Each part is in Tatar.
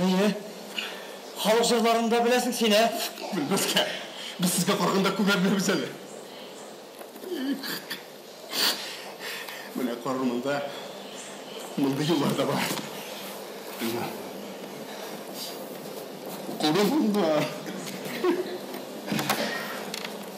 Әйе. Халык җырларын да беләсең син, ә? Белмәскә. Без сезгә караганда күбрәк беләбез әле. Менә карар монда. Мондый юллар да бар. Курым монда.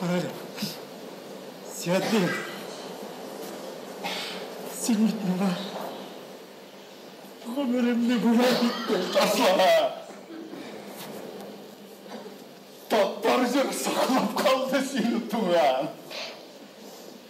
Карале. Сәтле. Син бит миңа гомеремне бүләк иттең, Таслана. Татар җыры саклап калды сине, туган.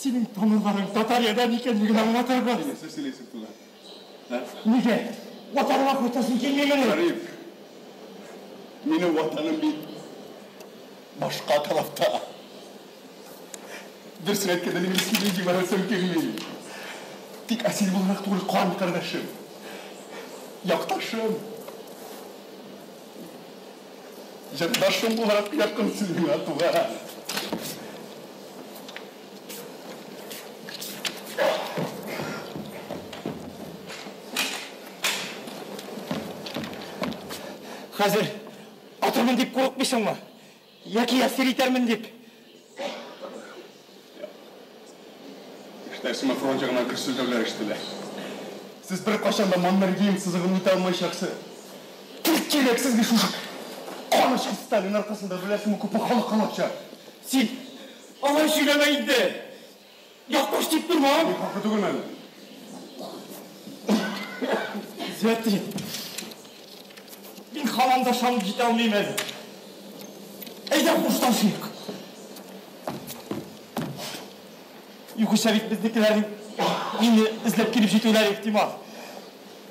Синең тамырларың татариядан икәнлеген аңлатырбыз. Нәрсә сөйләйсең тулай? Нигә? Ватаныңа кайтасың килмигән. Гариф. Минем ватаным бит башка тарафта. Дөрес әйткәндә мин сине җибәрәсем килми. Тик әсир буларак түгел, кан кардәшем. Якташым. Җырдашым буларак якын син миңа, туган. Хәзер атырмын дип курыкмыйсыңмы? Яки әсир итәрмен дип? Кешеләр сиңа фронт ягыннан көрсөлдәүләр ишетелә. Сез бер кайчан да Маннергейм сызыгын үтә алмаячаксы. Кирәк, кирәк сезгә шушы канычкы Сталин аркасында беләсеңме күпме халык алачак. Син алай сөйләмә инде. Якпаш дип торма! Мин хаклы түгелме әле? Зәти, мин һаман да ышанып җитә алмыйм әле. Әйдә хушлашыйк. Югыйсә бит безнекеләрнең мине эзләп килеп җитүләре ихтимал.